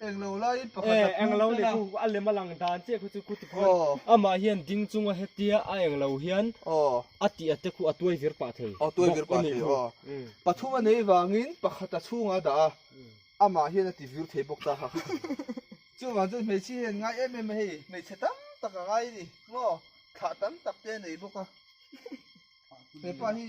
englo leh khu a lem a lang dan chiah kha chu khuti phawtin amah hian ding chunga hetia a englo hian a tih a te khu a tuai vir pah thei bawk a nih hmel pathuma nei vangin pakhata chhungah a dah a amah hian a ti vir thei bawk ta kha chuvang chuan hmeichhia hian ngai em em a hei hmeichhe tam tak a ngai a ni maw thlah tam tak te a nei bawk a hepa hi.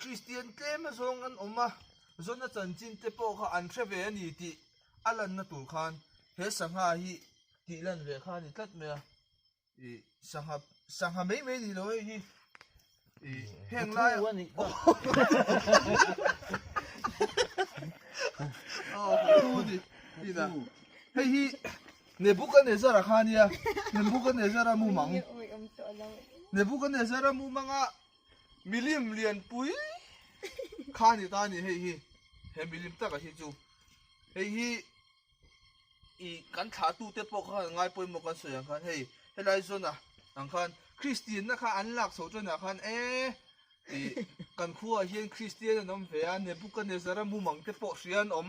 Kristian tlema zawng an awm a, zawna chanchinte pawh kha an hre ve a ni tih a lanna tur khan he sangha hi tih lan ve kha a ni tlat mai a. Ih sangha sangha mai mai ni lo hei hi. Ih heng lai a nih ka Aw ka thu a ni inah. Hei hi Nebuchadnezzara kha a nia, Nebuchadnezzara mumang, Nebuchadnezzara mumanga. Milim lianpui kha ni ta ni hei hi. He milim taka hi chu. Hei hi i kan thla tu te pawh khan ngai pawimawh kan sawi ang khan hei helai zawnah ang khan Kristianna kha an lak chho chuan ah khan e i kan khuaah hian Kristian an awm ve a, Nebukahnezara mumang te pawh hria an awm.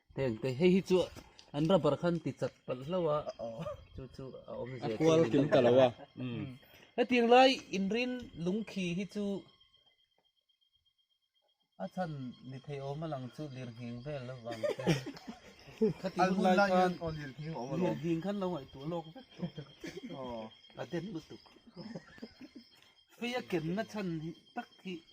Heng te hei hi chu an rubber khan ti chat palh hlo a chu chu a awm zia kual kim ta lo a hetiang lai inrin lungkhi hi chu a chan ni thei awm a lang chu lirhing vel lo vang te khati hun lai khan lirhing awm lo lirhing khan lo ngai tu lawk vek tu a den lutuk feia kenna chan tak hi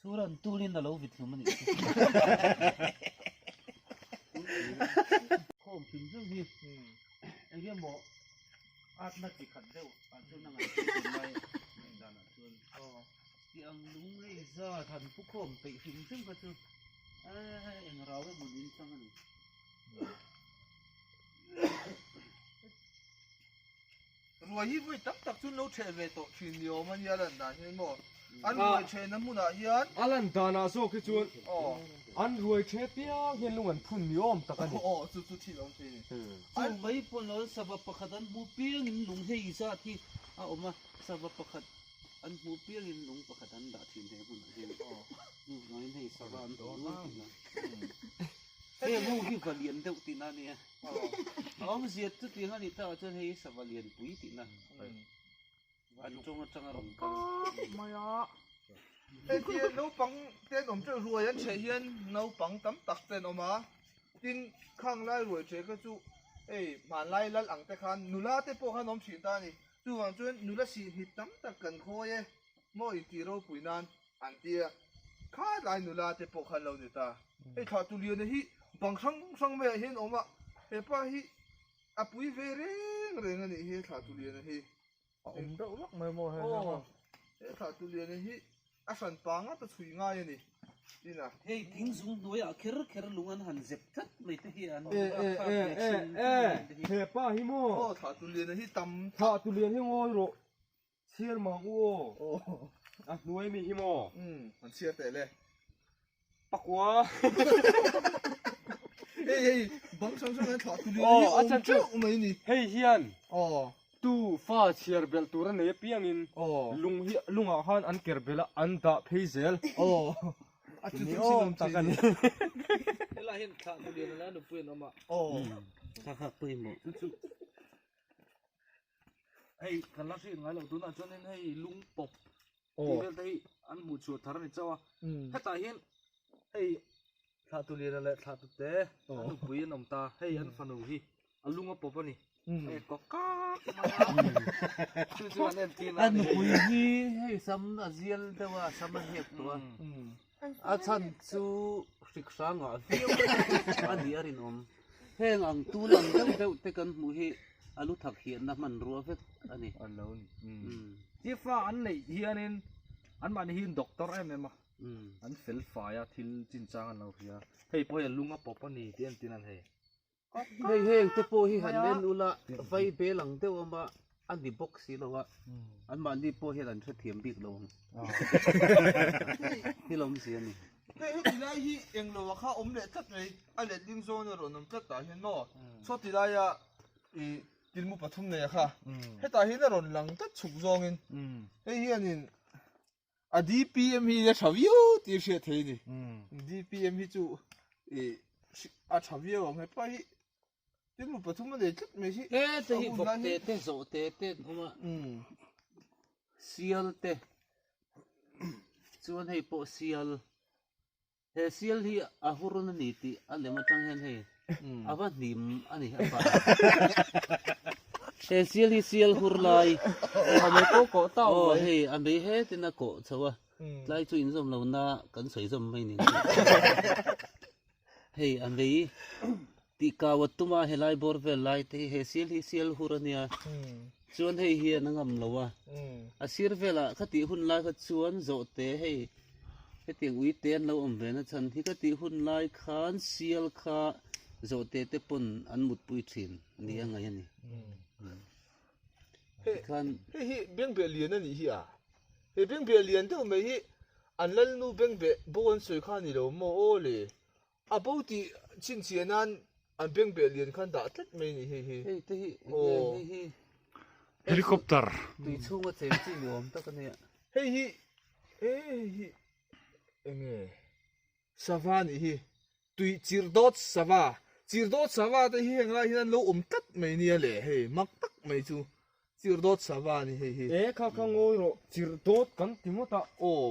Chu ran tunin na lo vit hlum a nih chu. Khawm thin zeuh hi enge maw atna ti khat deuh ah chuan a ngaihtuah thin lai a in danah chuan tih ang lunglei zat han pu khawm peih hrim hrim kha chu eng rau emaw niin chang a ni. Ruai hi vawi tak tak chu an lo chheh ve tawh thin ni awm a nia a lan dan hian maw? An ruai chhehna hmunah hian. A lan danah zawk hi chuan an ruai chhe piang hian lung an phun ni awm tak a ni. Aw chu chu thil a awm phei a ni. Chu mai pawn loin sava pakhat an hmu piangin lung hei zat hi a awm a. Sava pakhat an hmu piangin lung pakhat an dah thin he hmunah hian. Hnu hnuaiin hei sava an hmu luai thin a. Heng ho hi va lian deuh tihna a ni a. Awm ziat chu tih hmani tawh chuan hei sava lianpui tihna van tawng atanga rawn kal khawp mai a. Hetiang naupang te an awm teuh ruai an chheh hian naupang tam tak te an awm a tin khanglai ruai chhe ka chu hei hmanlai lal ang te khan nula te pawh khan awm thin ta a ni chuvang chuan nula sihnihmit tam tak kan khawi e maw intih ropui nan. an ti a, khât lai nula te pawh kha an lo net a, hei thla tu liana hi bang hrang hrang maiah hian a awm a, he pa hi a pui ve reng reng a nih hi he thla tu liana hi, a awm deuh vak mai maw he hang ho, he thla tu liana hi a hran pa ngata chhui ngai a ni, tin a. Hei thing zung hnuaiah kher kher lung an han zep tlat mai te hi an awm a, khât leh chhum te nen te hi. He pa hi maw? Aw thla tu liana hi tam tak. Thla tu lian hi ngawi rawh. Chhiar mang u aw. Aw. A hnuai mi hi maw? Umm, han chhiar teh le. Pakua. Hei hei, bang hrang hrang an thlah tuli hi a awm teuh mai ni. Hei hian. Aw. Tu fa chhiar belh tur a nei apiangin. Aw. Lung hi, lungah khan an ker belh a, an dah phei zel. Aw. A chu chu sin awm tak a ni. He lah hian thlah tuli a la a, nupui an awm a. Aw. Kha khak pawimawh. Chu chu. hei kan la hriat ngailo tunah chuanin hei lungpawp tih vel te hi an hmuh chhuah thar a ni chauh a hetah hian hei thlah tu lira leh thlah tute an nupui an awm ta hei an fanu hi a lunga pawp a ni hei kawk kak mai a chu chu an en tir na a ni an nupui hi hei sam a zial deuh a sam a hep tawh a A chhan chu hriksrangah viau viau a nih a rinawm. Heng ang tun ang deuh deuh te kan hmuh hi a luthak hiatna hmanrua vek a ni. Chiffa an neih hianin anmahni hi doctor em em a, an fel fai a, thil chinchang an lo hria. Hei pawh hei a lung a pawp a ni tih en tihin an hei. Hei heng te pawh hi han en ula, vai bel ang deuh a mah, a ni bawk si lo a, anmahni pawh hian an hrethiam bik lo ang. Thil awm si a ni. Hei heti lai hi eng lo a kha awm leh tlat mai, a let ding zawn a rawn awm tlat tah hian maw, chhuati laia ih tlmu pathum nei a kha hetah hian a rawn lang tlat chhuk zawngin hei hianin. a DPM hi a tha viau tir hriat thei ni DPM hi chu i a tha viau ang he pai tin mu pathum a nei tlat mai hi e te hi vok te te zo te te hum a sial te chuan hei pawh sial He sial hi a hurun a ni tih a lem atang hian hei a va hnim a ni a fah a. He sial hi sial hur lai. A mei pawh kawh ta awm mai. Hei a mei he tin a kawh chho a. Tlai chu inzawm lohna kan sawi zawm mai ni ngei. Hei a mei. Tih kau a tum a, helai bawr vel lai te hi he sial hi sial hur a nia, chuan hei hian a ngam lo a. A sir velah khatih hun lai kha chuan zawhte hei hetiang uite an lo awm ve nachhan, hi khatih hun lai khan sial kha zawhte te pawn an mutpui thin a nih a ngaih a ni. Tikhan. Hei hi bengbeh lian a nih hi a, he bengbeh lian deuh mai hi an lalnu bengbeh bo an sawi kha a ni lo maw aw le. A bo tih chin chiah nan an beng beh lian khan dah tlat mai nih hei hi. Hei te hi nge hei hi. Helicopter. Tui chhung a cheng chi ni awm tak a nia. Hei hi e hei hi enge sava nih hi. Tui chirh dawt sava. Chirh dawt sava te hi heng lai hian an lo awm tlat mai nia le hei mak tak mai chu chirh dawt sava a ni hei hi. E kha kha ngawi rawh chirh dawt kan ti ngawt a aw.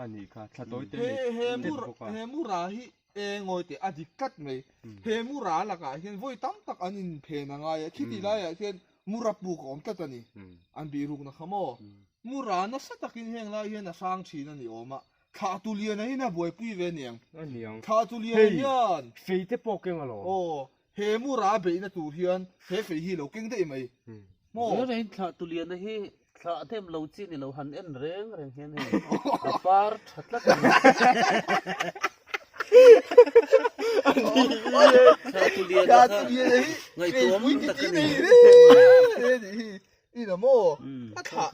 a nih kha thla tawi te nei he he mura he mura hi engawi teh a dik tlat mai he mura lakah hian vawi tam tak an in phen a ngai a khiti laiah hian mura puk awm tlat a ni an bih ruk nakha maw mura nasa takin heng lai hian a sang thin a ni awm a thlah tu lian ahin a buaipui ve niang a niang thlah tu lian hian feite pawh keng a lo aw He mura a beihna tur hian he fei hi lo keng daih mai maw? He in thlah tuliana hi thlah a hnem lo chi ni lo, han en reng reng hian hei a par tha tlat a ni. Thlah tuliana kha ngaihtuam tak a ni. Ina maw? A thlah.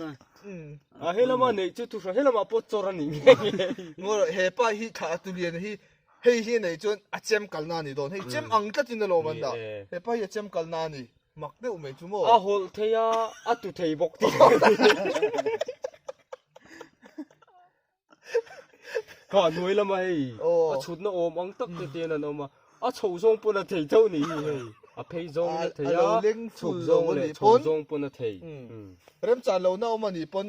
A he lamah neih chu thuhrang he lamah pawh chawr a nih ngei ngei. Maw he pa hi thlah tuliana hi Hei hi nei chuan a chem kalna a ni dawn. Hei chem ang tlatin a lawm an dah. He pa hi a chem kalna a ni. Mak deuh mai chu maw? A hawlh thei a, a tu thei bawk tih ka hre thei. Ka hnuai lamah hei a chhutna awm ang tak te te an han awm a, a chhoh zawng pawh a thei chauh ni hi hei. A phei zawng a thei a, chhuk zawng leh chho zawng pawh a thei. Remchah lohna awm a nih pawn.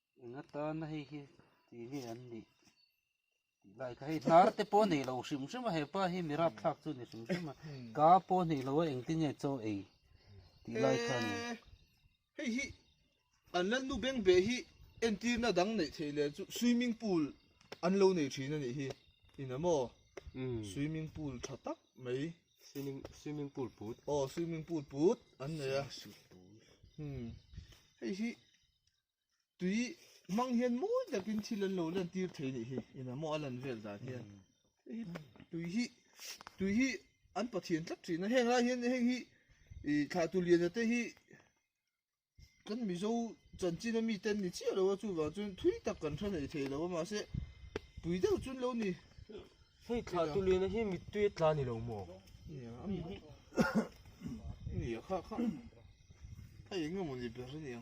Eng atana hei hi ti nge an nih tih lai kha hei hnar te pawh nei lo hrim hrim a hepa hi mi rapthlak chu ni hrim hrim a ka pawh nei lo a eng ti nge chaw ei tih lai kha ni hei hi an lan nu beng beh hi entirna dang neih theih leh chu swimming pool an lo nei thin a nih hi in emaw swimming pool tha tak mai swimming swimming pool put aw swimming pool put an nei a hei hi tui hmang hian mawi takin thil an lo lan tir thei nih hi ina maw a lan vel dan hian hi tui hi tui hi an pathian tlat thin a heng lai hian heng hi i thlah tu lian te hi kan mizo chanchin a mi ten ni chiah lo a chuvang chuan thui tak kan tha nei thei lo a mahse tui deuh chun lo ni hei thlah tu lian hi mit tui a tla ni lo maw nia a mi nia kha kha a eng emaw ni ber a nia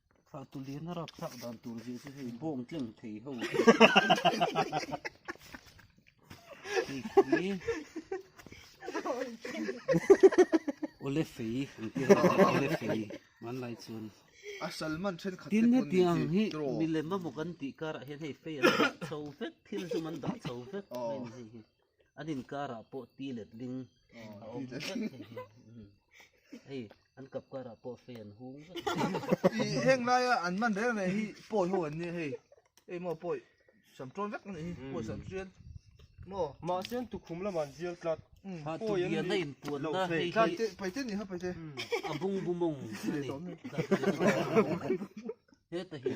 Thlah tuliana rap thlak dan tur zia chu hei bawng tleng thei ho. Hei ole fei ang te ole fei man lai chun a salman then khat tin he tiang hi milem mamu kan ti kar ah hian hei fei an dah chho vek thil chu man dah chho vek mai ni hei hi an inkarah pawh tilet ling a awm vek thei hi hei an kap karah pawh fei an hung vek i heng laia an man reng reng hi pawi ho an nia hei hei maw pawi sam tawn vek a nih hi pawi sam chian maw mahse an tukhum lamah an zir tlat ha tubiana inpuan na hei hi tlat te paite ni ho paite a bung bumawng a ni heta hi.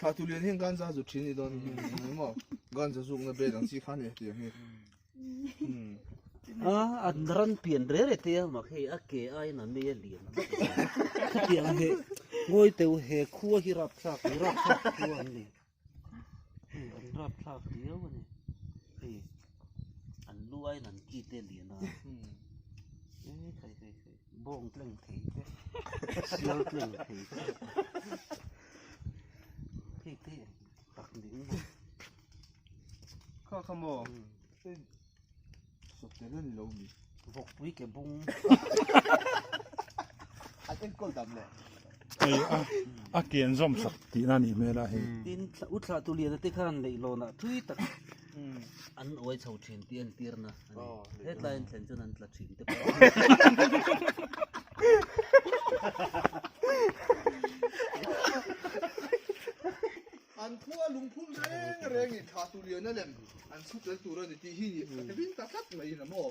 Thatu lian hian ganza zu thin ni don ni mo ganza zuk na be dang chi khan ni ti hi a an ran pian re re te ma khi a ke ai na me lian kha ti ang he ngoi teu he khu hi rap thak hi rap thak khu an ni an rap thak ti au ni hi an lu ai nan ki te lian a Bawng tleng thei te, sial tleng thei te. Thei te tak ding mo. Kha kha mo. Sok te ni lo mi. Vok pui ke bung. An en kol dam le. Ei a a kian zom sak ti na ni mela he. Tin u thla tu lian te khan leihlawn ah thui tak. An uai chho thin tih an tirna a ni. Hetlaiin thlen chuan an tla thin te pawh. An khua lungphun reng reng in thah tuliana lem an chhutel tur a ni tih hi a hlim ta tlat mai in a maw?